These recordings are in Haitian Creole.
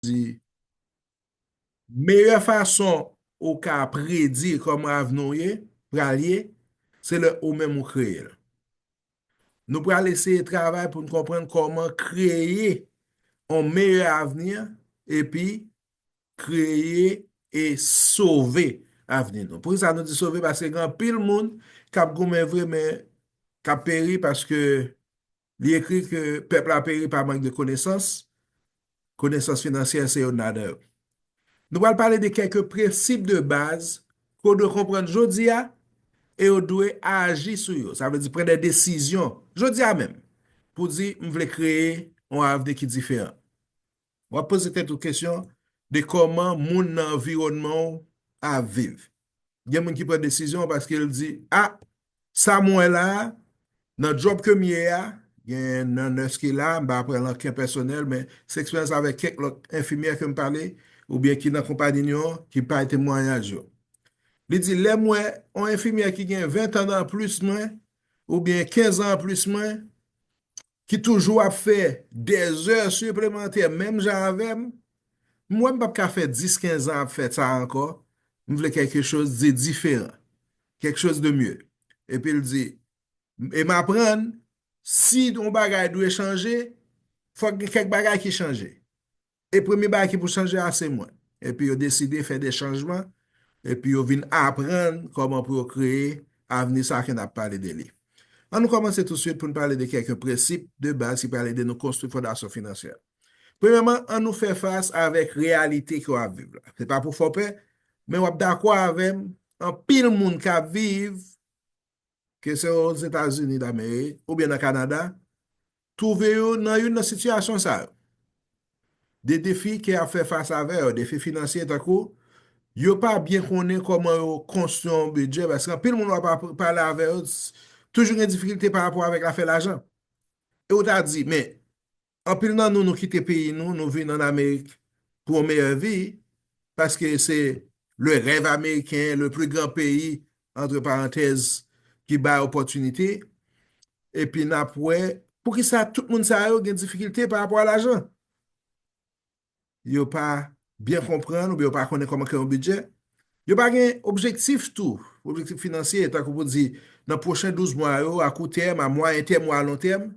di, Meyè fason ou ka predi kòman avni w ye, pral ye, se lè ou menm ou kreye l. Nou pral eseye travay pou n konprann kòman kreye yon meyè avni epi kreye e sove avni nou. Poukisa nou di sove? Paske gen anpil moun k ap goumen vre men k ap peri paske Li ekri ke pèp la peri pa mank de konesans, konesans finansyè se youn ladan yo. Nou pral pale de kèk prensip de baz ke w dwe konprann jodi a e w dwe aji sou yo, sa vle di pran de desizyon jodi a menm pou w di m vle kreye yon avni ki diferan. W ap poze tèt ou kesyon de kòman moun nan anviwònman w ap viv. Gen moun ki pran desizyon paske l di, A! Sa m wè la a, nan djòb ke m ye a, gen nan nès ki la, m pa pran l an kè pèsonèl, men se eksperyans avèk kèk lòt enfimyè ke m pale, oubyen ki nan konpanyi nou an, ki bay temwanyaj yo. Li di, Lè m wè yon enfimyè ki gen ventan anplis mwen, oubyen kenzan anplis mwen, ki toujou ap fè dè zè siplemantè menm jan avè m, m wè m pap ka fè 10, 15 an ap fè sa ankò, m vle kèlke choz de diferan, kèlke choz de mye. Epi l di, e m aprann, si yon bagay dwe chanje, fòk gen kèk bagay ki chanje. E premye bagay ki pou chanje a se mwen. Epi yo deside fè de chanjman, epi yo vin aprann kòman pou yo kreye avni sa a ke n ap pale de li. An nou kòmanse tousuit pou n pale de kèk prensip de baz ki pral ede nou konstwi fondasyon finansyè. Premyèman, an nou fè fas avèk reyalite ke w ap viv la. Se pa pou fè w pè, men w ap dakò avè m, anpil moun k ap viv ke se Ozetazini Damerik oubyen nan Kanada, twouve yo nan youn nan sitiyasyon sa yo. De defi ke y ap fè fas avè yo, defi finansye tankou, yo pa byen konnen kòman yo konstwi yon bidjè, paske anpil moun w ap pale avè yo toujou gen difikilte pa rapò avèk afè lajan. E ou ta di, men, Anpil nan nou nou kite peyi nou, nou vin an Amerik pou yon meyè vi, paske se le rèv ameriken, le pli gran peyi, antre parantèz, ki bay opòtinite, epi n ap wè, poukisa tout moun sa yo gen difikilte pa rapò a lajan? yo pa byen konprann oubyen yo pa konnen kòman kreye yon bidjè, yo pa gen objektif tou, objektif finansye, tankou pou di nan pwochen 12 mwa yo, a kou tèm, a mwayen tèm ou a lon tèm,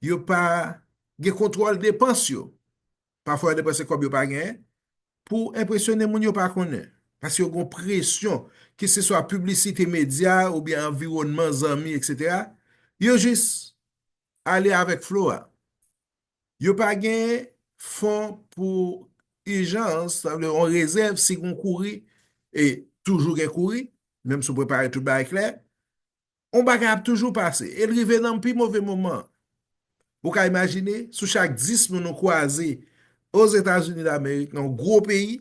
yo pa gen kontwòl depans yo. Pafwa yo depanse kòb yo pa gen, pou enpresyone moun yo pa konnen. Paske yo gen yon presyon, ke se swa piblisite medya oubyen anviwònman zanmi, eksetera, yo jis ale avèk flo a. Yo pa gen fon pou ijans, sa vle yon rezèv si gon kouri, e toujou gen kouri, menm si w prepare tout bagay klè, yon bagay ap toujou pase, e l rive nan pi move moman. Ou ka imajine, sou chak 10 moun ou kwaze Ozetazini Damerik, nan yon gwo peyi,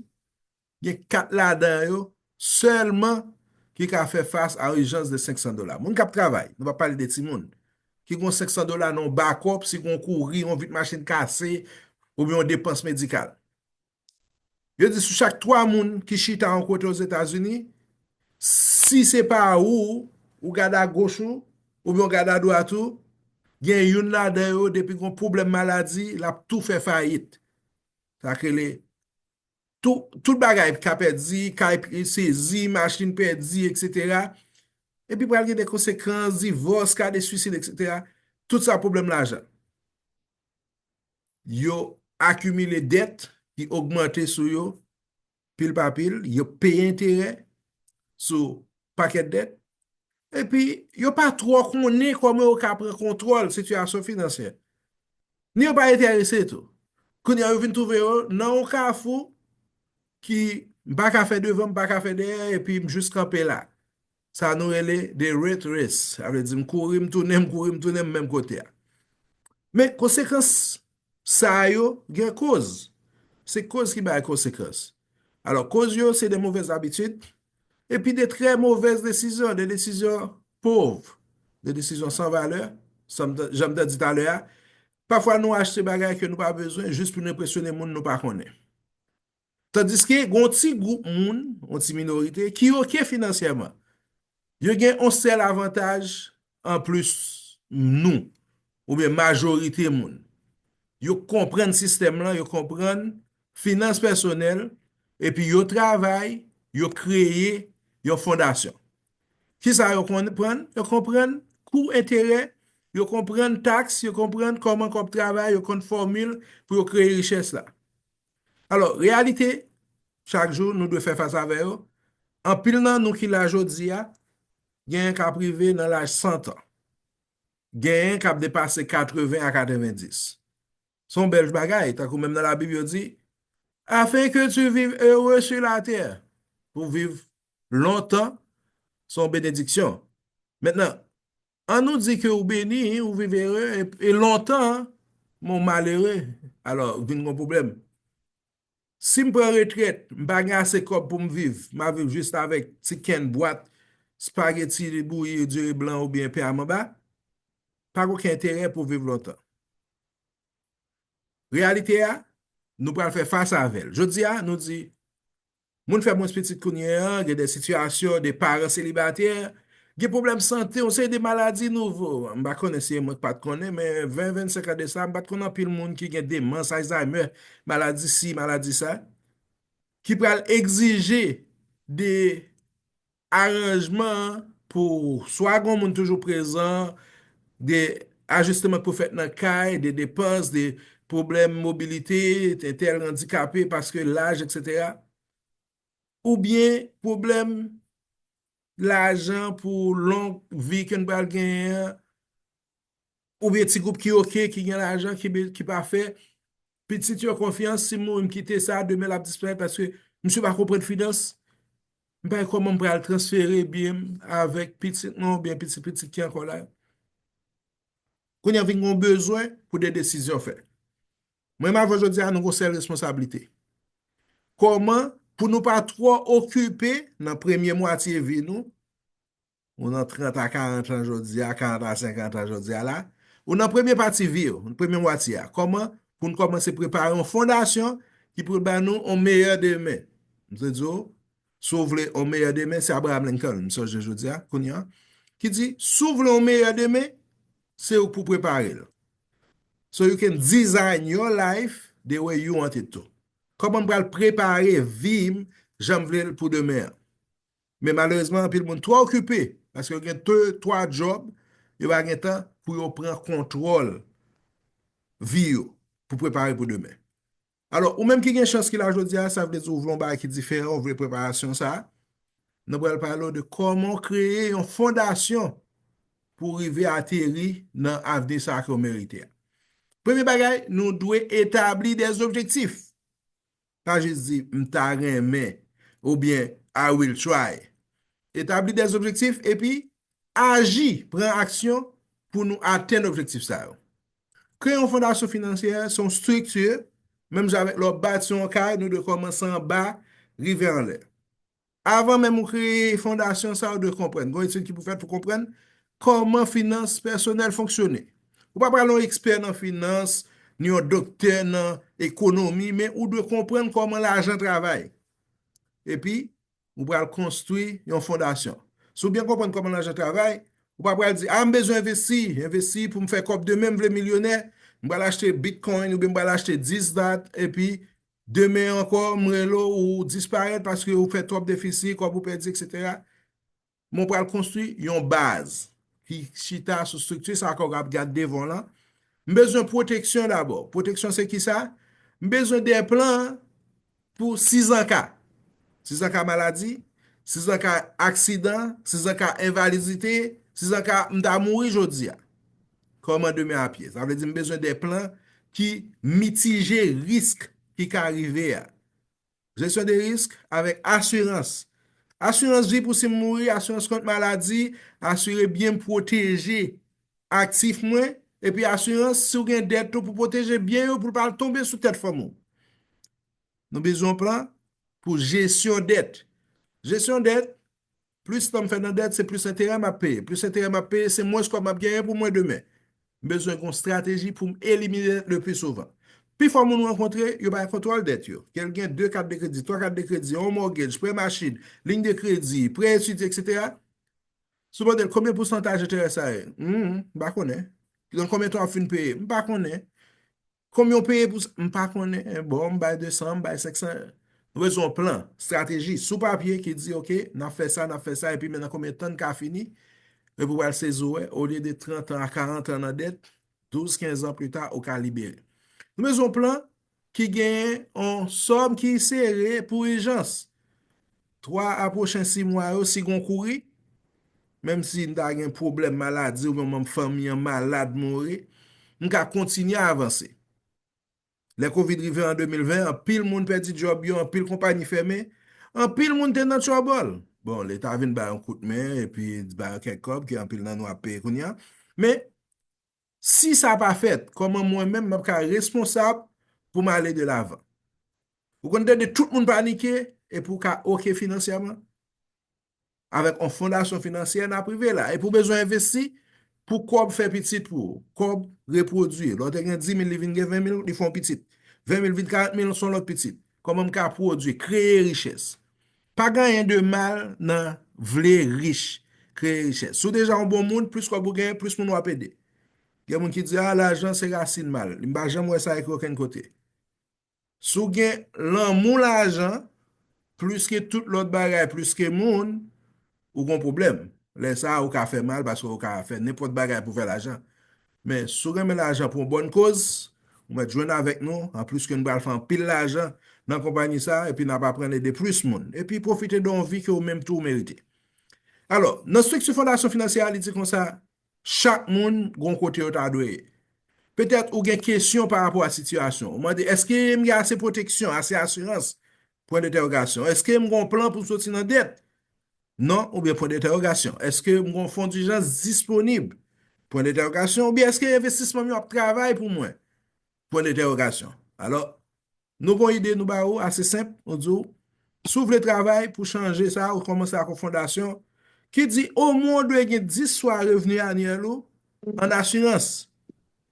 Gen 4 ladan yo sèlman ki ka fè fas a ijans de 500 dola. Moun k ap travay, nou pa pale de timoun, ki gen yon 500 dola nan yon bakòp si gen yon kouri, yon vit machin kase oubyen yon depans medikal. Yo di sou chak 3 moun ki chita yon kote Ozetazini, si se pa ou, ou gade agoch ou oubyen ou gade adwat ou, gen youn ladan yo depi gen yon pwoblèm maladi, l ap tou fè fayit. Sa k rele tout bagay ka pèdi, kay sezi, machin pèdi, eksetera, epi pral gen de konsekans, divòs, ka de swisid, eksetera, tout sa pwoblèm lajan. Yo akimile dèt, ki ogmante sou yo, pil pa pil, yo peye enterè, sou pakèt dèt, epi yo pa twò konnen kòman yo ka pran kontwòl sitiyasyon finansyè, ni yo pa enterese tou. Kounye a yo vin twouve yo nan yon kafou ki m pa ka fè devan, m pa ka fè dèyè epi m jis kanpe la. Sa nou rele the rat race, sa vle di m kouri m tounen, m kouri m tounen m menm kote a. Men konsekans Sa yo gen koz. Se koz ki bay konsekans. Alò koz yo se de movèz abitid epi de trè movèz desizyon, de desizyon pov, de desizyon san valè, jan m te di talè a, pafwa nou achte bagay ke nou pa bezwen jis pou nou enpresyone moun nou pa konnen. Tandiske gen yon ti gwoup moun, yon ti minorite, ki oke finansyèman. Yo gen yon sèl avantaj anplis nou, oubyen majorite moun. Yo konprann sistèm lan, yo konprann finans pèsonèl, epi yo travay, yo kreye yon fondasyon. Kisa yo konprann? Yo konprann kou enterè, yo konprann taks, yo konprann kòman kòb travay, yo konn fòmil pou yo kreye richès la. Alò, reyalite chak jou nou dwe fè fas avè yo, anpil nan nou ki la jodi a, genyen k ap rive nan laj santan, genyen k ap depase katreven a katrevendis. Se yon bèl bagay, tankou menm nan Labib yo di, Afin que tu vives heureux sur la terre, pou w viv lontan se yon benediksyon. Mentnan, An nou di ke ou beni, ou viv ere, e lontan, men w malere, alò, vin gen yon pwoblèm. Si m pran retrèt, m pa gen ase kòb pou m viv, m ap viv jis avèk ti kenn bwat spageti bouyi, diri blan oubyen pen a manba, pa gen okenn enterè pou w viv lontan. Reyalite a, nou pral fè fas avè l. Jodi a, nou di, Moun fè mwens pitit kounye a, gen de sitiyasyon, de paran selibatè, gen pwoblèm sante, yon seri de maladi nouvo. M pa konnen si e mwen k pa t konnen, men 20, 25 an de sa, m pa t konn anpil moun ki gen demans, Alzheimer, maladi si, maladi sa, ki pral egzije de Aranjman an pou swa gon moun toujou prezan, de ajisteman k pou fèt nan kay, de depans, de pwoblèm mobilite, entèl randikape paske laj eksetera, oubyen pwoblèm lajan pou long vi ke n pral genyen an, Oubyen ti gwoup ki ok, ki gen lajan, ki pa fè pitit yo konfyans, si m mouri m kite sa, demen l ap disparèt paske misye pa konprann finans, m pa wè kòman m pral transfere byen m avèk pitit mwen oubyen pitit pitit ki ankò la yo. Kounya vin gen yon bezwen pou de desizyon fèt. Mwen menm avè w jodi a nou gen yon sèl responsablite. Kòman pou nou pa twò okipe nan premye mwatye vi nou ou nan 30 a 40 an jodi a, 40 a 50 an jodi a la, ou nan premye pati vi yo, nan premye mwati a, kòman pou nou kòmanse prepare yon fondasyon ki pou ban nou yon meyè demen. M te di ou, si ou vle yon meyè demen, se Abraham Lincoln, m sonje jodi a, kounye a, ki di, si ou vle yon meyè demen, se ou pou prepare l. So you can design your life the way you want it to. Kòman m pral prepare vi m jan m vle l pou demen an. Men malerezman anpil moun twò okipe paske yo gen 2, 3 djòb, yo pa gen tan pou yo pran kontwòl vi yo pou prepare pou demen. Alò, ou menm ki gen chans ki la jodi a, sa vle di ou vle yon bagay ki diferan, ou vle preparasyon sa a, nou pral pale ou de kòman ou kreye yon fondasyon pou rive ateri nan avni sa a ke ou merite a. Premye bagay, nou dwe etabli dè objektif. Pa jis di m ta renmen oubyen I will try. Etabli des objectifs epi aji, pran aksyon pou nou atenn objektif sa yo. Kreye yon fondasyon finansyè se yon strikti, menm jan avèk lè w ap bati yon kay, nou dwe kòmanse anba rive anlè. Avan menm ou kreye fondasyon sa a, ou dwe konprann, gen yon etid ki pou fèt pou konprann kòman finans pèsonèl fonksyone. Ou pa pral yon ekspè nan finans, ni yon doktè nan ekonomi, men ou dwe konprann kòman lajan travay. Epi, ou pral konstwi yon fondasyon. Si ou byen konprann kòman lajan travay, ou pa pral di, a, m bezwen envesti, envesti pou m fè kòb demen, m vle milyonè, m pral achte bitcoin oubyen m pral achte dis dat, epi Demen ankò, m rele w, ou disparèt paske ou fè twòp defisi, kòb ou pèdi, eksetera. Men w pral konstwi yon baz ki chita sou estrikti sa kòw ap gad devan w lan. M bezwen pwoteksyon dabò. Pwoteksyon se kisa? M bezwen de plan pou sizanka. Sizanka maladi, sizanka aksidan, sizanka envalidite, sizanka m ta mouri jodi a. Kòman demen ap ye? Sa vle di m bezwen de plan ki mitije risk ki ka rive a. Jesyon de risk avèk asirans. Asirans vi pou si m mouri, asirans kont maladi, asire byen m pwoteje aktif mwen, epi asirans si w gen dèt tou pou pwoteje byen yo pou l pa tonbe sou tèt fanmi w. Nou bezwen yon plan pou jesyon dèt. Jesyon dèt, Plis tan m fè nan dèt, se plis enterè m ap peye. Plis enterè m ap peye, se mwens kòb m ap genyen pou mwen demen. M bezwen gen yon estrateji pou m elimine dèt lepli souvan. Pifò moun m rankontre, yo pa gen kontwòl dèt yo. Ke l gen 2 kat de kredi, 3 kat de kredi, yon mògej, prè machin, liy de kredi, prè etidye, eksetera. Si w mande l konbyen pousantaj enterè sa ye? Hum, m pa konnen. Nan konbyen tan w ap fin peye? M pa konnen. Konbyen w peye pou sa? M pa konnen. Bon, m bay 200, m bay 500. Nou bezwen yon plan, strateji, sou papye ki di ok, n ap fè sa, n ap fè sa, epi men nan konbyen tan n ka fini, epi w pral sezi w wè, olye de 30 an a 40 an nan dèt, 12, 15 an pita, ou ka libere. Nou bezwen yon plan ki genyen yon sòm ki sere pou ijans. 3 a pwochen si mwa yo, si gen yon kouri, menm si m ta gen pwoblèm maladi oubyen yon manm fanmi an malad, mouri, m ka kontinye avanse. Lè kovid rive an 2020, anpil moun pèdi djòb yo, anpil konpanyi fèmen, anpil moun te nan tchòbòl. Bon, leta vin ba yon kout men epi ba yo kèk kòb ke anpil nan nou ap peye kounye a, men, Si sa pa fèt, kòman mwen menm m ap ka responsab pou m ale de lavan? Ou konn tande tout moun panike epi ou ka oke finansyèman? Avèk yon fondasyon finansyè n ap rive la. Epi ou bezwen envesti pou kòb fè pitit pou ou, kòb repwodui. Lè w te gen 10 mil li vin gen 20 mil, li fè yon pitit. 20 mil vin 40 mil, s on lòt pitit. Kòman m ka pwodui, kreye richès? Pa gen anyen de mal nan vle rich, kreye richès. Si w deja yon bon moun, plis kòb ou genyen, plis moun w ap ede. Gen moun ki di, a, lajan se rasin mal. M pa janm wè sa ekri okenn kote. Si w gen lanmou lajan, plis ke tout lòt bagay, plis ke moun, ou gon pwoblèm. Lè sa a ou ka fè mal paske ou ka fè nenpòt bagay pou fè lajan. Men, si w renmen lajan pou yon bòn koz, ou mèt jwenn avèk nou, anplis ke nou pral fè anpil lajan nan konpayi sa a epi n ap aprann ede plis moun, epi pwofite de yon vi ke ou menm tou ou merite. Alò, nan estrikti Fondasyon Finansyè a, li di konsa, Chak moun gon kote yo ta dwe ye. Petèt ou gen kesyon pa rapò a sitiyasyon ou. Mande, Èske m gen ase pwoteksyon, ase asirans? Pwen detèwogasyon Èske m gon plan pou m soti nan dèt? Non oubyen pwen detèwogasyon Èske m gon fon dijans disponib? Pwen detèwogasyon oubyen Èske envestisman m yo ap travay pou mwen? Pwen detèwogasyon Alò, Nou gon ide nou ba ou ase senp, nou di w, si w vle travay pou chanje sa, ou kòmanse ak yon fondasyon ki di omwen ou dwe gen 10 swa revni anyèl ou an asirans.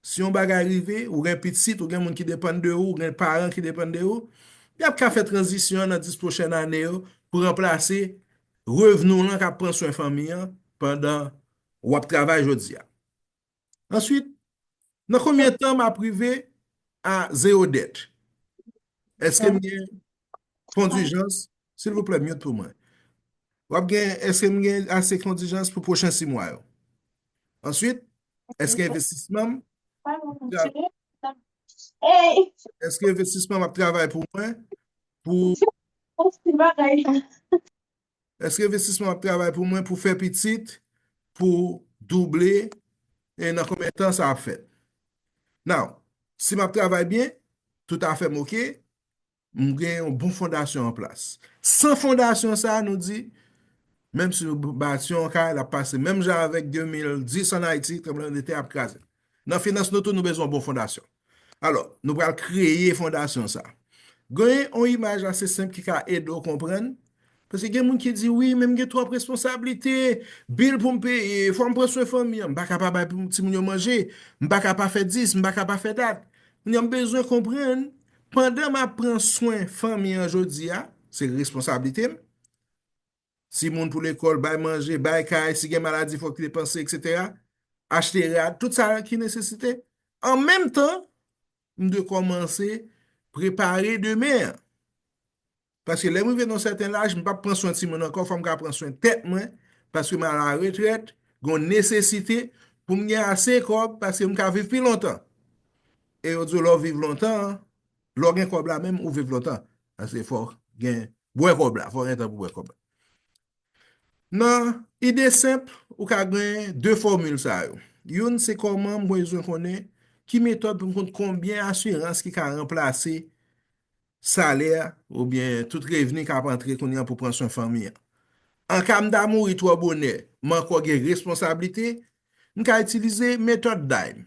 Si yon bagay rive, ou gen pitit, ou gen moun ki depann de ou, ou gen paran ki depann de ou, y ap ka fè tranzisyon an nan 10 pwochèn ane yo pou ranplase revni w lan k ap pran swen fanmi an pandan w ap travay jodi a. Answit, Nan konbyen tan map rive a zero dèt? Eskem gen fon dijans? Silvouplè mute pou mwen. Wap gen eskem gen ase fon dijans pou pwochen 6 mwa yo? Answit eske envestisman m eske envestisman m ap travay pou mwen pou Èske investisman ap travay pou mwen pou fè pitit pou double e nan konbyen tan sa ap fèt? Now, si m ap travay byen, tout afè m ok, m gen yon bon fondasyon an plas. San fondasyon sa a, nou di, menm si nou bati yon kay, l ap pase menm jan avèk 2010 an Ayiti, tranbleman de tè ap kraze l. Nan finans nou tou nou bezwen yon bon fondasyon. Alò, nou pral kreye fondasyon sa. Gen yon imaj ase senp ki ka ede w konprann. Paske gen moun ki di, wi, men m gen twòp responsablite, bil pou m peye, fò m pran swen fanmi an, m pa ka pa bay pou timoun yo manje, m pa ka pa fè dis, m pa ka pa fè dat. Kounye a, m bezwen konprann, pandan m ap pran swen fanmi an jodi a, se responsablite m, si moun pou lekòl, bay manje, bay kay, si gen maladi fòk li depanse etc. Achte rad, tout sa ki nesesite. An menm tan, m dwe kòmanse prepare demen an. Paske lè m rive nan yon sèten laj, m pap pran swen timoun ankò, fòm ka pran swen tèt mwen, paske m a la retrèt, gon nesesite pou m gen ase kòb, paske m ka viv pi lontan. E yo di w lè w viv lontan, Lè w gen kòb la menm ou viv lontan paske fò w gen bwè kòb la, fò w gen tan pou bwè kòb la. Nan ide senp, ou ka gen 2 fòmil sa yo. Youn se kòman m bezwen konnen ki metòd pou m konn konbyen asirans ki ka ranplase salè oubyen tout revni k ap antre kounye an pou pran swen fanmi an. An ka m ta mouri twò bonè, m ankò gen responsablite, M ka itilize metòd daim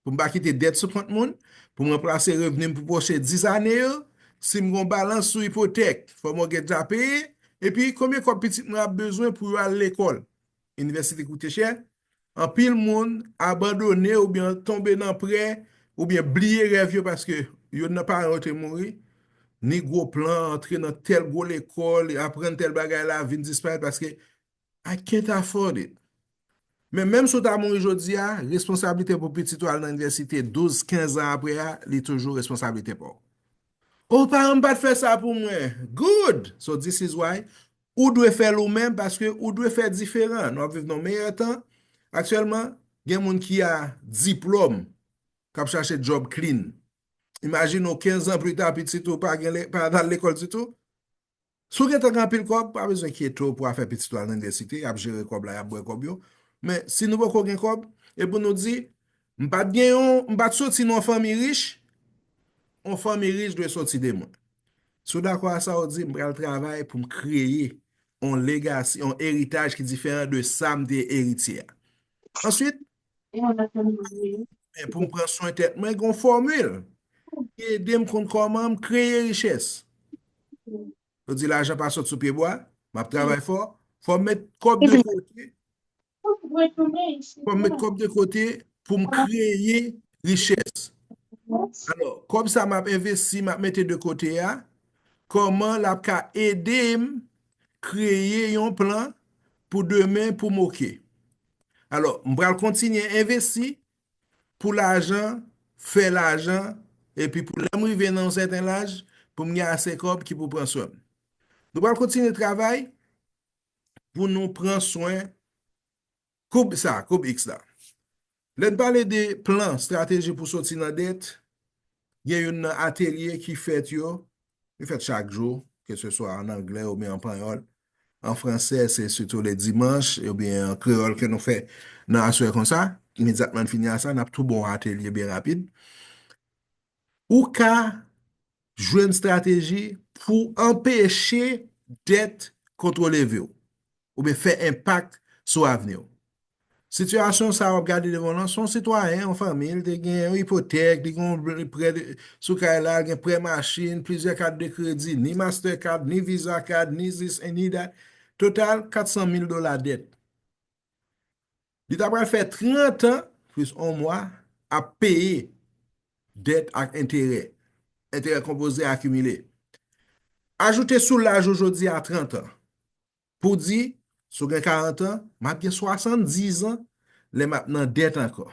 pou m pa kite dèt sou kont moun, pou m ranplase revni m pou pwochen 10 ane yo, si m gen yon balans sou ipotèk fò mòtgej la peye, epi konbyen kòb pitit mwen ap bezwen pou yo al lekòl. Inivèsite koute chè, anpil moun abandone oubyen tonbe nan prè oubyen bliye rèv yo paske youn nan paran yo te mouri, ni gwo plan antre nan tèl gwo lekòl, aprann tèl bagay la vin disparèt paske I can't afford it. Men menm si w ta mouri jodi a, responsablite pou pitit ou al nan inivèsite 12, 15 an apre a, li toujou responsablite pa w. Oh, paran m pa t fè sa pou mwen. Good! So this is why ou dwe fè l ou menm paske ou dwe fè diferan. Nou ap viv nan yon meyè tan. Aktyèlman, gen moun ki a diplòm k ap chache djòb klin. Imajine w 15 an pli ta pitit ou pa al lekòl ditou. Si w gentan gen anpil kòb, pa bezwen kyete w pou afè pitit ou al nan inivèsite, y ap jere kòb la, y ap bwè kòb yo. Men, si nou poko gen kòb, e pou nou di, m pa t gen yon, m pa t soti nan yon fanmi rich, yon fanmi rich dwe soti de mwen. Si w dakò a sa, ou di, m pral travay pou m kreye yon legasi, yon eritaj ki diferan de sa m te eritye a. Answit, Men pou m pran swen tèt mwen, gen yon fòmil ki ede m konn kòman m kreye richès. Yo di lajan pa sot sou pye bwa, m ap travay fò, fò m met kòb de kote, fò m met kòb de kote pou m kreye richès. Alò, kòb sa m ap envesti, m ap mete de kote a, kòman l ap ka ede m kreye yon plan pou demen pou m oke. Alò, m pral kontinye envesti pou lajan, fè lajan, epi pou lè m rive nan yon sèten laj, pou m gen ase kòb ki pou pran swen m. Nou pral kontinye travay pou nou pran swen koub sa, koub X la. Lè n pale de plan, strateji pou soti nan dèt, Gen youn nan atelye ki fèt yo, yo fèt chak jou, ke se swa an angle ou byen an panyòl. An franse, se sitou le dimanche ou byen an kreyòl ke nou fè nan aswè kon sa. Imedyatman n fini a sa, n ap tou ba w atelye byen rapid. Ou ka jwenn strateji pou anpeche dèt kontwole vi w. oubyen fè enpak sou avni w. Sitiyasyon sa a w ap gade devan w lan, se yon sitwayen, yon fanmi, li te gen yon ipotèk, li gen yon prè sou kay la, li gen prè machin, plizyè kat de kredi, ni Master Card, ni Visa Card, ni this and ni that, total 400 mil dola dèt. Li ta pral fè 30 an, plis 1 mwa, ap peye dèt ak enterè, enterè konpoze akimile. Ajoute sou laj ou jodi a 30 an, Pou di, si w gen karantan, m ap gen swasanndizan lè m ap nan dèt ankò.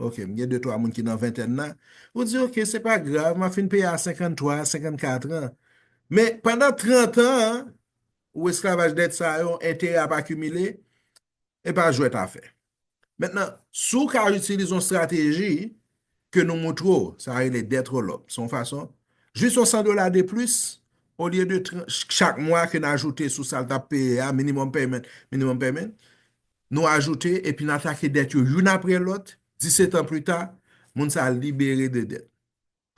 Ok, m gen de twa moun ki nan ventèn la. Ou di, ok, se pa grav, m ap fin peye a senkanntwa, senkannkatran. Men, pandan trantan an, ou esklavaj dèt sa yo, enterè ap akimile, e pa jwèt afè. Mentnan, si w ka itilize yon strateji ke nou moutre w, sa rele debt roll up, se yon fason, jis yon 100 dola de plis, olye de chak mwa ke n ajoute sou sa l t ap peye a, minimum payment, minimum payment, nou ajoute epi n atake debt yo youn apre lòt, 17 an pli ta, moun sa a libere de debt.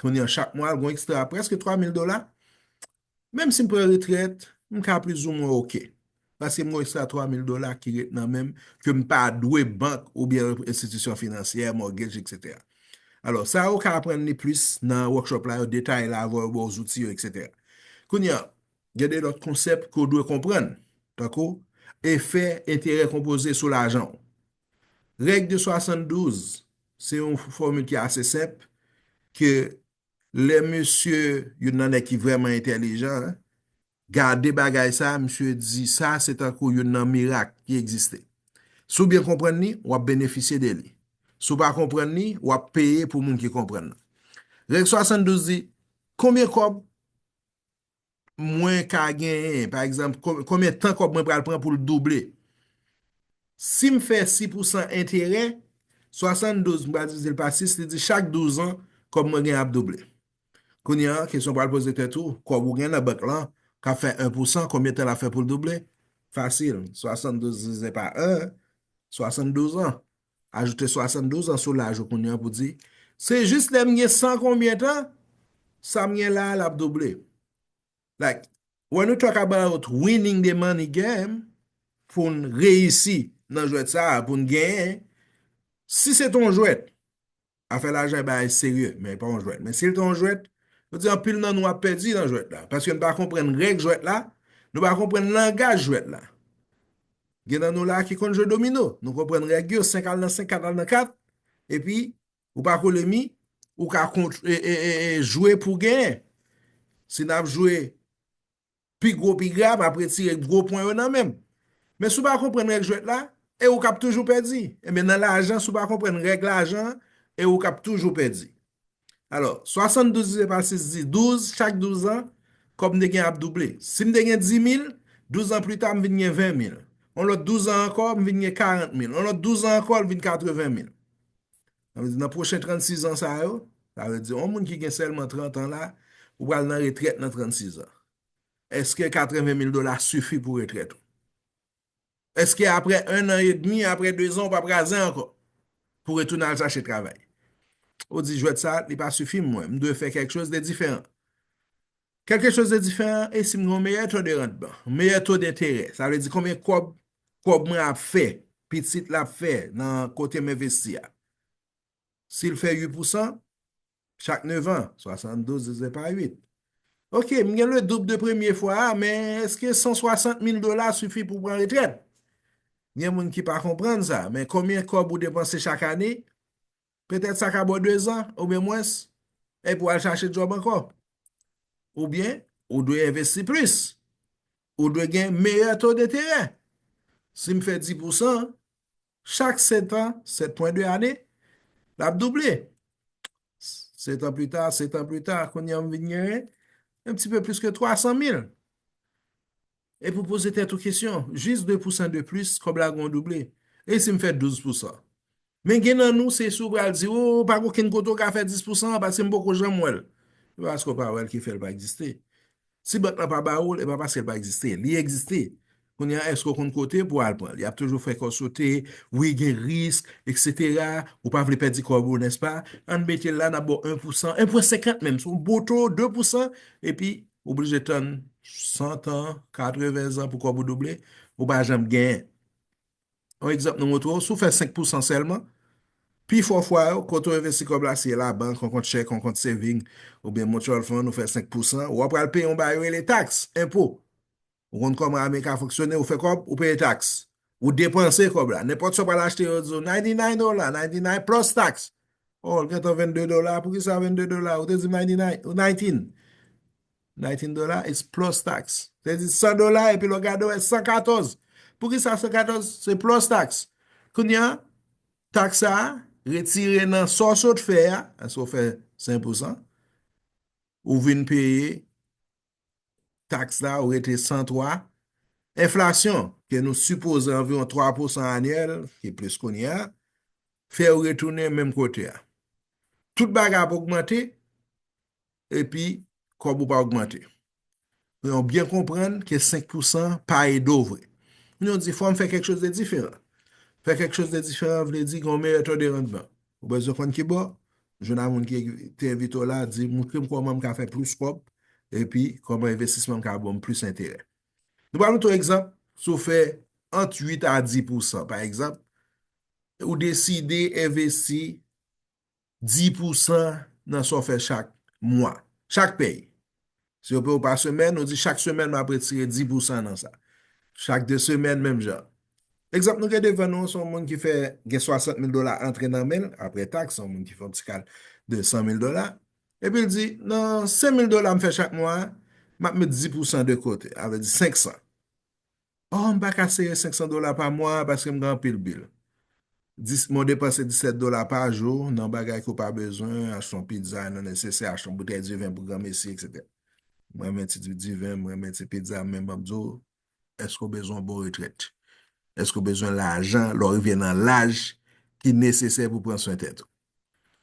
Kounye an chak mwa l gon ekstra a prèske 3 mil dola. Menm si m pran retrèt, m ka plizoumwen ok. Paske m gon ekstra 3 mil dola ki ret nan men m ke m pa dwe bank oubyen enstitisyon finansyè, mortgage etc. Alò sa ou ka aprann li plis nan workshop la yo detaye la avè w yo ba w zouti yo etc. Kounye an, gen de lòt konsèp ke w dwe konprann tankou efè enterè konpoze sou lajan w. Règ de 72, se yon fòmil ki ase senp, ke lè mesye, youn nan nèg ki vrèman entèlijan, gade bagay sa, misye di sa se tankou youn nan mirak ki egziste. Si w byen konprann li, w ap benefisye de li. Si w pa konprann li, w ap peye pou moun ki konprann nan. Règ 72 di, konbyen kòb mwen ka genyen, pa egzanp, konbyen tan kòb mwen pral pran pou l double. Si m fè 6 pou san enterè, 72 m pral divize l pa 6, li di chak 12 an, kòb mwen genyen ap double. Kounye a, kesyon w pral poze tèt ou, kòb ou gen nan bank lan, k ap fè 1 pou san, konbyen tan l ap fè pou l double? Fasil, 72 divize pa 1, 72 an. Ajoute 72 an sou laj ou kounye an pou di, Se jis lè m gen san konbyen tan, sa m gen la a l ap double. Like, when we talk about winning the money game, pou n reyisi nan jwèt sa a, pou n genyen, si se te yon jwèt, Afè lajan e bagay serye, men e pa yon jwèt. Men si l te yon jwèt, nou di anpil nan nou ap pèdi nan jwèt la. Paske nou pa konprann règ jwèt la, nou pa konprann langaj jwèt la. Gen nan nou la ki konn jwe domino, nou konprann règ yo, 5 al nan 5, 4 al nan 4, epi ou pa kole mi, ou ka jwe pou genyen. Si n ap jwe Pi gwo pi gra, m ap retire gwo pwen yo nan men m. Men si w pa konprann règ jwèt la, e ou k ap toujou pèdi. Enben nan lajan, si w pa konprann règ lajan, e ou k ap toujou pèdi. Alò, 72 divize pa 6 di 12, chak 12 an, kòb m te gen ap double. Si m te gen 10 mil, 12 an plita m vin gen 20 mil. Yon lòt 12 an ankò, m vin gen 40 mil. Yon lòt 12 an ankò, l vin 80 mil. Sa vle di nan pwochen 36 an sa yo, sa vle di yon moun ki gen sèlman 30 an la, ou pral nan retrèt nan 36 an. Eske 80 mil dola sifi pou retrèt ou? Eske apre 1 an e demi, apre 2 zan ou pap razè ankò? Pou retounen al chache travay? Ou di jwèt sa, li pa sifi mwen, m dwe fè kèk choz de diferan. Kèlke choz de diferan, e si m gen yon meyè to de rantman, meyè to de enterè, sa vle di konbyen kòb Kob mwen ap fè, pitit la ap fè nan kote m envesti a. Si l fè 8 pousan, chak 9 an, 72 divize pa 8. Ok, m gen le doub de premye fwa a, men eske 160 mil dola sifi pou pran retrèt? Gen moun ki pa konprann sa, men konbyen kob ou depanse chak ane, Petèt sa ka bo dezan oubyen mwens epi w al chache djòb ankò. Oubyen ou dwe envesti plis. Ou dwe gen meyè to deterè. Si m fè di pousan, chak setan, 7 pwen 2 ane, l ap double. Setan plita, setan plita, kounye a m vin genyen yon ti pe plis ke 300 mil. Epi ou poze tèt ou kesyon, jis 2 pousan de plis, kòb la gen yon double. E si m fè 12 pousan? Men gen nan nou, se si ou pral di, o, pa gen okenn kote ou ka fè 10 pousan an, paske m poko janm wè l. Se pa paske ou pa wè l ki fè l pa egziste. Si bank lan pa ba ou l, e pa paske l pa egziste. Li egziste. Kounye a, èske ou konn kote pou al pran l? Y ap toujou fè kò sote, wi, gen risk, eksetera, ou pa vle pèdi kòb ou, nèspa? An n mete l la, n ap ba w 1 pousan, 1 pwen senkant menm, se yon boto, 2 pousan, epi Ou blije tann 100 tan, 80 zan pou kòb ou double, ou pa janm genyen. Yon egzanp nou montre w, si w fè 5 pousan sèlman, pi fò fwa yo, kote w envesti kòb la, si e labank, yon kont chèk, yon kont saving, oubyen mutual fund, ou fè 5 pousan, ou apral peye yon bagay yo rele taks, enpo. Ou konn kòman ame ka fonksyone, ou fè kòb, ou peye taks. Ou depanse kòb la. Nenpòt sa w pral achte yo di w 99 dola, 99 plus tax. Oh, l gen tan 22 dola, pou ki sa 22 dola? Ou te di m 99, ou 19. 19 dola is plus tax. Ou te di 100 dola epi lè w gade w wè 114. Pou ki sa 114? Se plus tax. Kounye an, taks sa a retire nan sa w sot fè a, paske w fè 5 pousan, ou vin peye taks la ou rete 103. Enflasyon, ke nou sipoze anviwon 3 pousan anyèl, ki plis kounye a, fè ou retounen menm kote a. Tout bagay ap ogmante, epi kòb ou pa ogmante. Men ou byen konprann ke 5 pousan pa ede ou vre. Moun yo di fò m fè kèk chòz de diferan. Fè kèk chòz de diferan vle di gen yon meyè to de randman. Ou bezwen konn ki bò? Jwenn ak moun ki te envite w la, di, Montre m kòman m ka fè plis kòb epi kòman envestisman m ka ban m plis enterè. Nou pral mete yon egzanp, si w fè ant 8 a 10 pousan, pa egzanp, ou deside envesti 10 pousan nan sa w fè chak mwa, chak pèy, Si yo peye w pa semèn, ou di chak semèn m ap retire 10 pousan nan sa. Chak 2 semèn menm jan. Egzanp nou gen devan nou an se yon moun ki fè gen 60 mil dola antre nan men l apre taks, se yon moun ki fè yon ti kal de 100 mil dola, epi l di nan 5 mil dola m fè chak mwa a, m ap met 10 pousan de kote, sa vle di 500. Oh, m pa ka sere 500 dola pa mwa a paske m gen anpil bil. Dis, men w depanse 17 dola pa jou nan bagay ke w pa bezwen, achte yon pizza nan nesesè, achte yon boutèy diven pou granmesi, etc. M renmen ti diven, m renmen ti pizza, men map di w, èske w bezwen yon bon retrèt? Èske w bezwen lajan lè w rive nan laj ki nesesè pou pran swen tèt ou?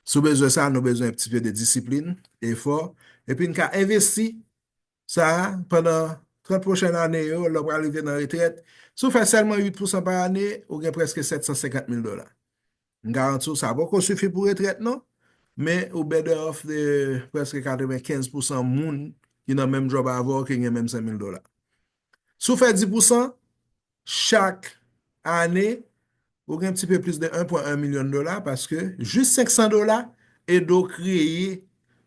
Si w bezwen sa, nou bezwen un petit peu de discipline, efò, epi n ka envesti Sa a, pandan 30 pwochèn ane yo, lè w pral rive nan retrèt, si w fè sèlman 8 pousan pa ane, ou gen prèske 750 mil dola. M garanti w sa poko sifi pou retrèt non, men ou better off de prèske 95 pousan moun ki nan menm djòb avè w ki gen menm 100 mil dola. Si w fè 10 pousan, chak ane ou gen ti pe plis de 1 pwen 1 milyon dola paske jis 500 dola ede w kreye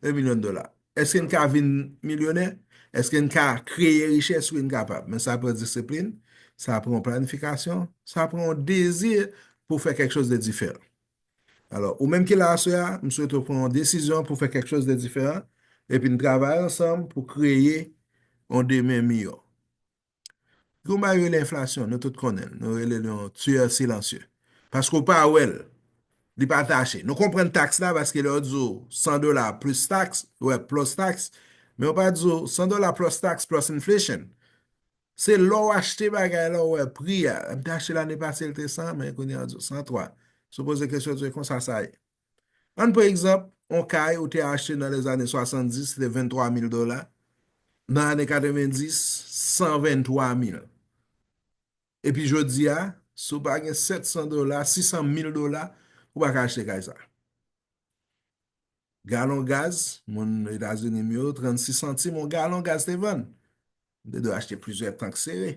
1 milyon dola. Eske n ka vin milyonè? Eske n ka kreye richès? Wi n kapab, men sa pran disiplin, sa pran yon planifikasyon, sa pran yon dezi pou fè kèk chòz de diferan. Alò, ou menm ki la aswè a, m swete w pran yon desizyon pou fè kèk chòz de diferan epi n travay ansanm pou kreye yon demen miyò. Yon bagay rele enflasyon, nou tout konnen l, nou rele l yon tueur silencieux. Paske w pa wè l, li pa tache. Nou konprann taks la paske lè yo di w 100 dola plis taks, ou wè plus tax, men yo pa di w 100 dola plus tax plus inflation. Se lè w achte bagay la ou wè pri a, m te achte l ane pase li te 100, men kounye a yo di w 103. Si w poze kesyon yo di w e konsa sa ye. Ann pran egzanp, on kay ou te achte nan lèzane 70 se te 23 mil dola, nan ane 90, 123 mil. Epi jodi a, si w pa gen 700 dola, 600 mil dola, ou pa ka achte kay sa. Galon gaz, moun Etazini m yo, 36 santim on galon gaz te vann. M te dwe achte plizyè tank sere.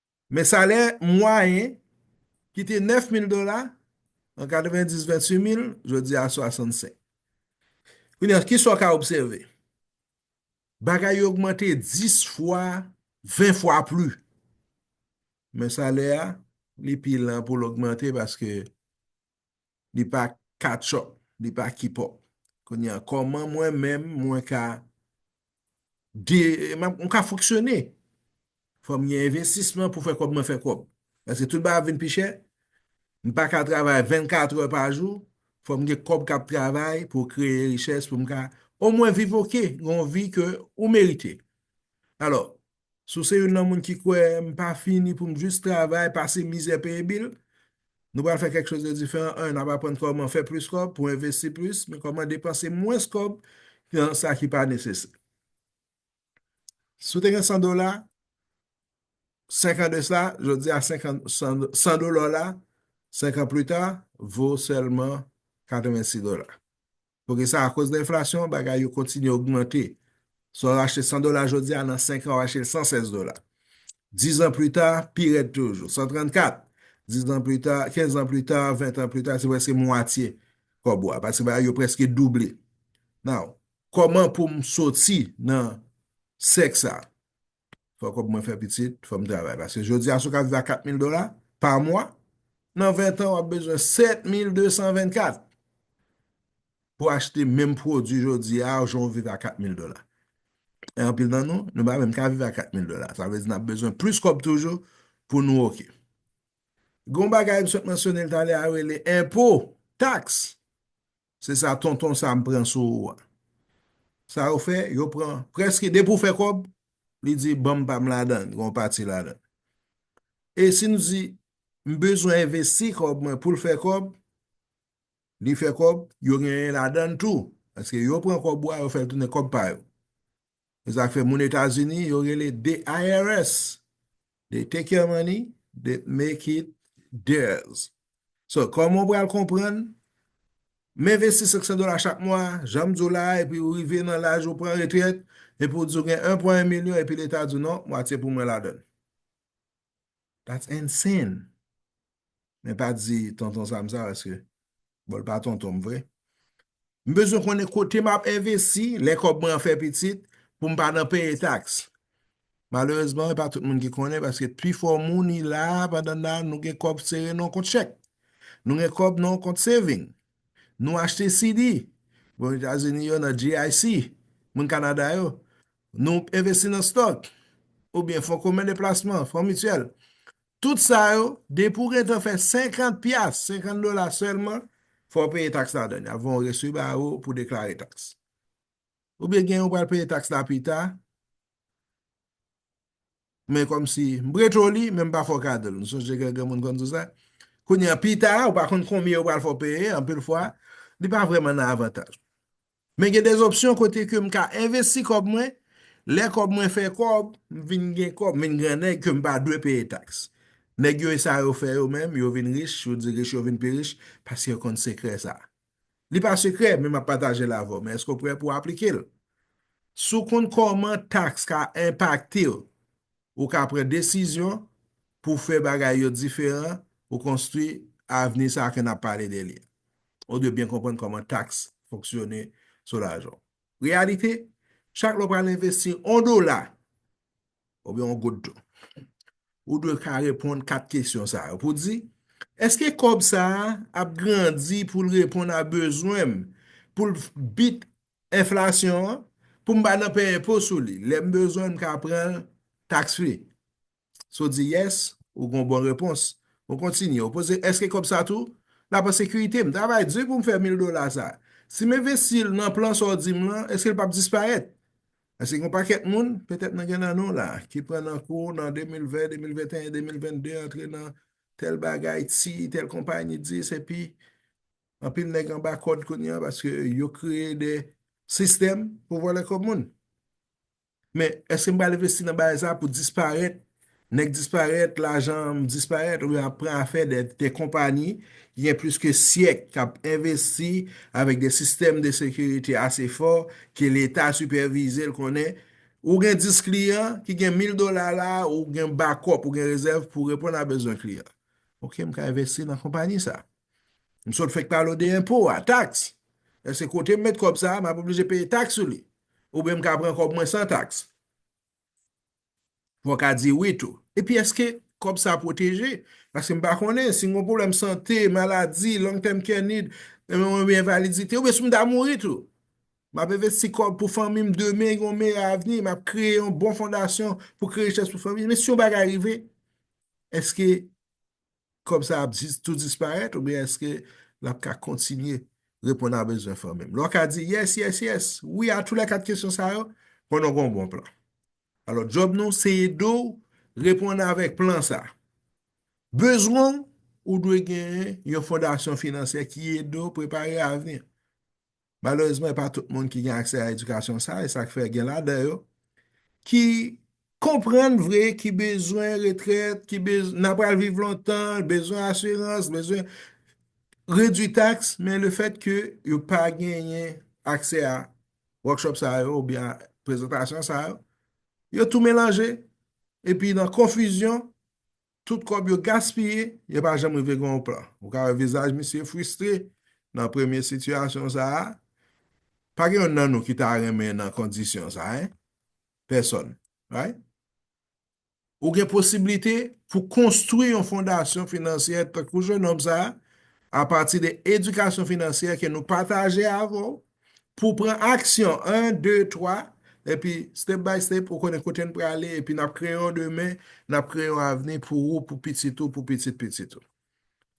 Men salè mwayen ki te 9 mil dola an 90 28 mil jodi a 65. Kounye a, ki sa w ka obsève? Bagay yo ogmante 10 fwa, 20 fwa pli. Men salè a, li pi lan pou l ogmante paske li pa K-chop, li pa K-pop. Kounye a, kòman mwen menm mwen ka mwen ka fonksyone? Fò m gen envestisman pou fè kòb mwen fè kòb. Paske tout bagay ap vin pi chè, m pa ka travay 24 trè pa jou, fò m gen kòb k ap travay pou kreye richès pou m ka omwen viv oke, gen yon vi ke ou merite. Alò, Si w se youn nan moun ki kwè m pa fini pou m jis travay, pase mizè, peye bil, nou pral fè kèk chòz de diferan. 1 n ap aprann kòman fè plis kòb pou envesti plis, men kòman depanse mwens kòb nan sa ki pa nesesè. Si w te gen 100 dola 5 an de sa, jodi a 100 dola w la 5 an pli ta vo sèlman 86 dola. Paske sa akoz de enflasyon bagay yo kontinye ogmante. Sa w achte 100 dola jodi a nan 5 an w achte l 116 dola. 10 an pli ta pi rèd toujou. 134, 10 an pli ta, 15 an pli ta, 20 an pli ta se preske mwatye kòb ou a. Paske bagay yo preske double. Now, kòman pou m soti nan sèk sa? fò kòb mwen fè pitit, fò m travay. Paske jodi a si w ka viv a 4 mil dola pa mwa, nan 20 tan w ap bezwen 7 mil 224 pou achte menm pwodwi jodi a jan w viv a 4 mil dola. E anpil nan nou, nou pa menm ka viv a 4 mil dola. Sa vle di n ap bezwen plis kòb toujou pou nou ok. Gon bagay m sot mansyone l talè a rele enpo, taks. Se sa tonton Sam pran sou ou a. Sa yo fè, yo pran prèske depi ou fè kòb, li di banm pam ladan l, gen yon pati ladan l. E si nou di m bezwen envesti kòb mwen pou l fè kòb, li fè kòb, yo genyen ladan l tou. Paske yo pran kòb ou a, yo fè l tounen kòb pa yo. Zafè moun Etazini yo rele the IRS they take your money they make it theirs so kòman ou pral konprann m envesti 500 dola chak mwa jan m di w la a epi ou rive nan laj ou pran retrèt epi ou di w gen 1,1 milyon epi leta di w non mwatye pou mwen ladan l. That's insane! Men pa di tonton Sam sa paske bon l pa tonton m vre. M bezwen konnen kote m ap envesti lè kòb mwen an fè pitit pou m pa nan peye taks. Malerezman e pa tout moun ki konnen paske pi fò moun i la pandan nan nou gen kòb sere nan yon kont chèk. Nou gen kòb nan yon kont saving. Nou achte CD. Bon Etazini yo nan GIC. Moun Kanada yo. Nou envesti nan stock, oubyen fon komen de plasman, fon mityèl. Tout sa yo, depi ou gentan fè 50 pyas, 50 dola sèlman, fò ou peye taks ladan l. Y ap voye yon resi ba ou pou deklare taks. Oubyen gen ou pral peye taks la pita. men kòmsi m preto li men m pa fè w kado l. M sonje gen granmoun konn di w sa. Kounye a, pi ta, ou pa konn konbyen yo pral fè w peye, anpil fwa, li pa vrèman nan avantaj ou. Men gen de opsyon kote ke m ka envesti kòb mwen, lè kòb mwen fè kòb, m vin gen kòb, m vin gran nèg ke m pa dwe peye taks. Nèg yo e sa yo fè yo menm, yo vin rich, yo di rich yo vin pi rich, paske yo konn sekrè sa a. Li pa sekrè men map patajel avèw men eske w prè pou aplikel? Si w konn kòman taks ka enpaktew ou ka pran desizyon pou fè bagay yo diferan pou konstwi avni sa ke nap pale de li a. Ou dwe byen konprann kòman taks fonksyone sou lajan w. Reyalite, chak lè w pral envesti on dola, oubyen yon gout dlo. Ou dwe ka reponn 4 kesyon sa yo pou di, Eske kòb sa a ap grandi pou l reponn a bezwen m, pou l bit enflasyon an, pou m pa nan peye enpo sou li? Lè m bezwen l, m ka pran l tax free? Si w di yes, ou gen yon bon repons. Ou kontinye, ou poze, Eske kòb sa tou l ap an sekirite? M travay di pou m fè mil dola sa a. Si m envesti l nan plan sa w di m lan, eske l p ap disparèt? Paske gen yon pakèt moun, petèt nan gen nan nou la, ki pran nan kou nan 2020, 2021, 2022, antre nan tèl bagay, ti, tèl konpanyi, dis, epi, anpil nèg anba kòd kounye an, paske yo kreye de sistèm pou vòlè kòb moun. Men, eske m pral envesti nan bagay sa pou disparèt Nèg disparèt, lajan m disparèt oubyen ap pran afè de konpani ki gen plis ke syèk k ap envesti avèk de sistèm de sekirite ase fò ke leta sipèvize l konnen ou gen 10 kliyan ki gen 1000 dola la a ou gen bakòp ou gen rezèv pou reponn a bezwen kliyan ok m ka envesti nan konpani sa m sot fèk pale w de enpo a taks èske kote m met kòb sa a m ap oblije peye taks sou li oubyen m ka pran kòb mwen san taks. Fòw ka di wi tou. Epi eske kòb sa pwoteje? Paske m pa konnen, si m gon pwoblèm sante, maladi, long term care need, oubyen envalidite, oubyen si m ta mouri tou. M ap envesti kòb pou fanmi m demen gen yon meyè avni, m ap kreye yon bon fondasyon pou kreye richès pou fanmi m. Men si yon bagay rive, eske kòb sa ap jis tou disparèt oubyen èske l ap ka kontinye reponn a bezwen fanmi m? Lè w ka di yes, yes, yes, wi a tou lè kat kesyon sa yo, konnen w gen yon bon plan. Alò, djòb nou se ede w reponn avèk plan sa. Bezwen w, ou dwe genyen yon fondasyon finansyè ki ede w prepare avni. Malerezman, e pa tout moun ki gen aksè a edikasyon sa, e sak fè gen ladan yo ki konprann vre, ki bezwen retrèt, ki bezwen, nan pral viv lontan, bezwen asirans, bezwen redwi taks, men le fèt ke yo pa genyen aksè a workshop sa yo, ou byen prezantasyon sa yo, yo tou melanje, epi nan konfizyon, Tout kòb yo gaspiye, yo pa janm rive gen yon plan. Ou ka wè vizaj misye fristre nan premye sitiyasyon sa a. Pa gen youn nan nou ki ta renmen nan kondisyon sa a. Pèsòn. Right? Ou gen posiblite pou konstwi yon fondasyon finansyè tankou jenòm sa a apati de edikasyon finansyè ke nou pataje avè w Pou w pran aksyon 1, 2, 3, epi step by step ou konnen kote n prale epi n ap kreye yon demen, n ap kreye yon avni pou ou, pou pitit ou, pou pitit pitit ou.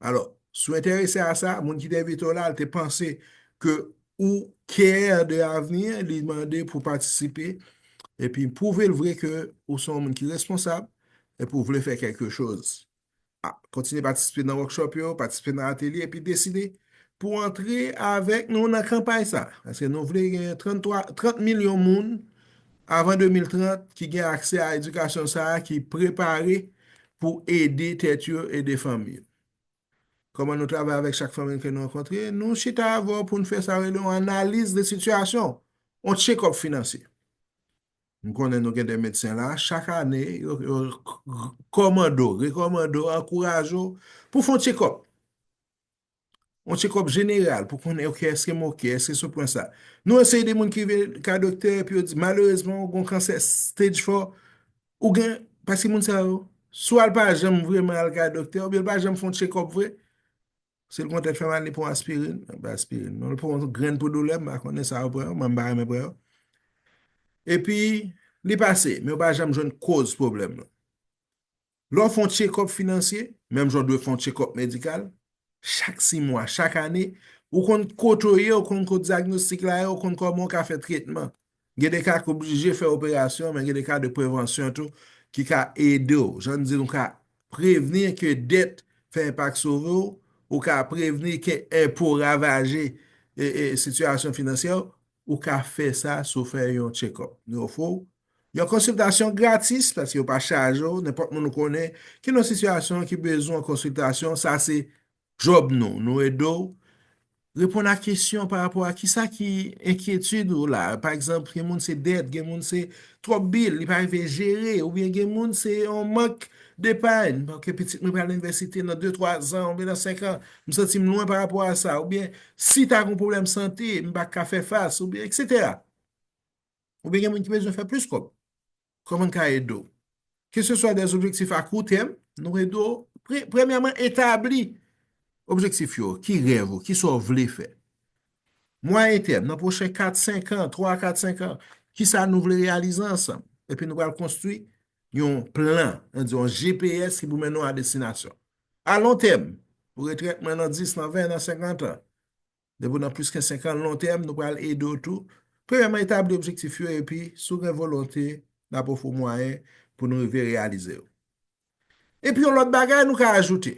Alò, si w enterese a sa, moun ki te envite w la al te panse ke ou care de avni an, li mande pou w patisipe epi pwouve l vre ke ou se yon moun ki responsab epi ou vle fè kèlke choz Kontinye patisipe nan workshop yo, patisipe nan atelye epi deside pou antre avèk nou nan kanpay sa. Paske nou vle gen 30 milyon moun avan 2030 ki gen aksè a edikasyon sa a ki prepare pou ede tèt yo, ede fanmi yo. Kòman nou travay avèk chak fanmi ke nou rankontre? Nou chita avè w pou nou fè sa yo rele yon analiz de sitiyasyon, yon check-up finansye. M konnen nou gen de medsen la, chak ane yo kòmande w, rekòmande w, ankouraje w pou fè yon tchekòp. Yon tchekòp jeneral pou konnen ok eske m ok, eske sou pwen sa. Nou anseye de moun ki vin ka doktè epi yo di malerezman ou gon kansè stage 4, ou gen, paske moun sa yo, swa l pa janm vreman al ka doktè oubyen l pa janm fè yon tchekòp vre, Si l pran tèt fè mal, li pran aspirin. Mwen pa aspirin. Mwen pran yon grenn pou doulè, mwen pa konnen sa yo pran. Mwen pa renmen pran yo. E pi, li pase. Men yo pa janm jwenn koz pwoblèm nan. Lè w fè yon tchekòp finansye, menm jan w dwe fè yon tchekòp medikal, chak si mwa, chak ane, ou konn kote w ye, ou konn kote dyagnostik la ye, ou konn kòman ou ka fè tretman. Gen de ka ki oblije fè operasyon men gen de ka de prevansyon tou ki ka ede w. Jan n di l ou ka prevni ke dèt fè enpak sove w, ou ka prevni ke enpo ravaje sitiyasyon finansyè w, ou ka fè sa si w fè yon tchekòp. Nou ofri w yon konsiltasyon gratis paske yo pa chaje w, nenpòt moun ou konnen ki nan sitiyasyon ki bezwen konsiltasyon sa se Job nou, nou ede w reponn a kesyon pa rapò a kisa ki enkyetid ou la. Pa egzanp, gen moun se dèt, gen moun se twòp bil li pa rive jere oubyen gen moun se yon mank depay, paske pitit mwen pral nan inivèsite nan de twa zan oubyen nan senk an, m santi m lwen pa rapò a sa oubyen si ta gen yon pwoblèm sante m pa ka fè fas oubyen eksetera. Oubyen gen moun ki bezwen fè plis kòb. Kòman n ka ede w? Keseswa de objektif a kou tèm, nou ede w premyèman etabli objektif yo. Ki rèv ou? Ki sa w vle fè? Mwayen tèm, nan pwochen 4, 5 an, 3 a 4, 5 an, ki sa nou vle reyalize ansanm? Epi nou pral konstwi yon plan, an di yon GPS ki pou mennen w a destinasyon. A lon tèm, pou retrèt mwen nan 10, nan 20, nan 50 an, Depi w nan plis ke 5 an, lon tèm, nou pral ede w tou. Premyèman, etabli objektif yo epi, si w gen volonte, n ap ofri w mwayen pou nou rive reyalize yo. Epi yon lòt bagay nou ka ajoute,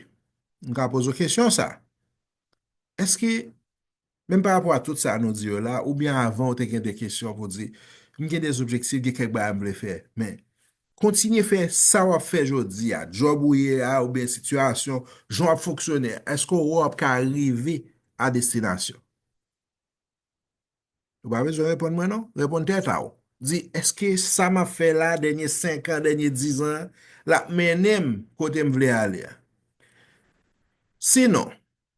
nou ka poze w kesyon sa, Èske, menm pa rapò a tout sa nou di yo la, oubyen avan ou te gen de kesyon pou w di, M gen de objektif, gen kèk bagay m vle fè, men, Kontinye fè sa w ap fè jodi a, djòb ou ye a oubyen sitiyasyon, jan w ap fonksyone a. Èske ou ap ka rive a destinasyon? Ou pa bezwen reponn mwen non, reponn tèt a ou. Di, èske sa m ap fè la dènye senkan, dènye dizan an, l ap mennen m kote m vle ale a? Si non,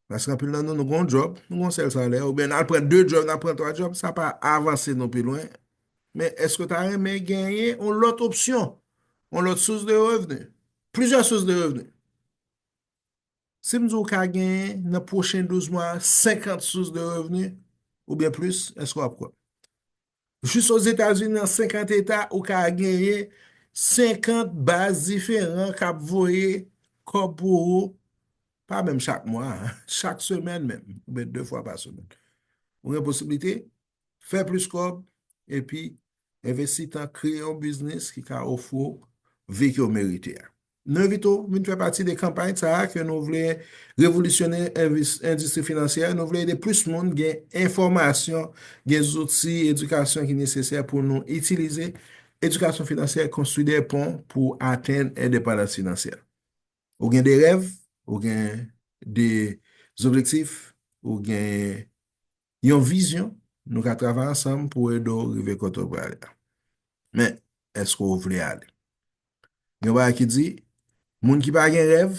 Paske anpil nan nou, nou gen yon djòb, nou gen yon sèl salè, oubyen n al pran de djòb, n al pran twa djòb, sa pa avanse nou pi lwen. Men, èske w ta renmen genyen yon lòt opsyon, yon lòt sous de revni, plizyè sous de revni? Si m di w ka genyen nan pwochen 12 mwa a 50 sous de revni, oubyen plis, èske w ap kwè m? Jis Ozetazini nan 50 eta ou ka genyen 50 baz diferan k ap voye kòb pou ou, pa menm chak mwa, chak semèn menm, oubyen 2 fwa pa semèn. Ou gen posiblite fè plis kòb epi envesti tan kreye yon biznis ki ka ofri w vi ke w merite a. Nou envite w vin fè pati de kanpay sa a ke nou vle revolisyone endistri finansyè a. Nou vle ede plis moun gen enfòmasyon, gen zouti edikasyon ki nesesè pou nou itilize edikasyon finansyè konstwi de pon pou atenn endepandans finansyè. Ou gen de rèv, ou gen de zobjektif, ou gen Yon vizyon, Nou ka travay ansanm pou ede w rive kote w vle ale a. Men, èske w vle ale? Gen yon bagay ki di, Moun ki pa gen rèv,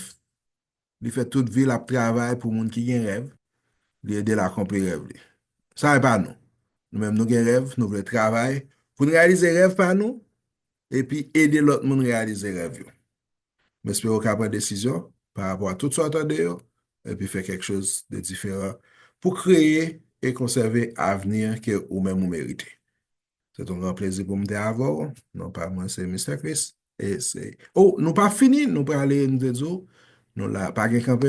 li fè tout vi l ap travay pou moun ki gen rèv, li ede l akonpli rèv li. Sa e pa nou. Nou menm nou gen rèv, nou vle travay pou n reyalize rèv pa nou epi ede lòt moun reyalize rèv yo. M espere w ka pran desizyon pa rapò a tout sa w tande yo epi fè kèk choz de diferan pou kreye e konsève avni ke ou menm ou merite. Se t on gran plezi pou m te avè w. Non pa mwen se Mister Christ e se. O! Nou pa fini, nou prale, m te di w, nou la, pa gen kanpe.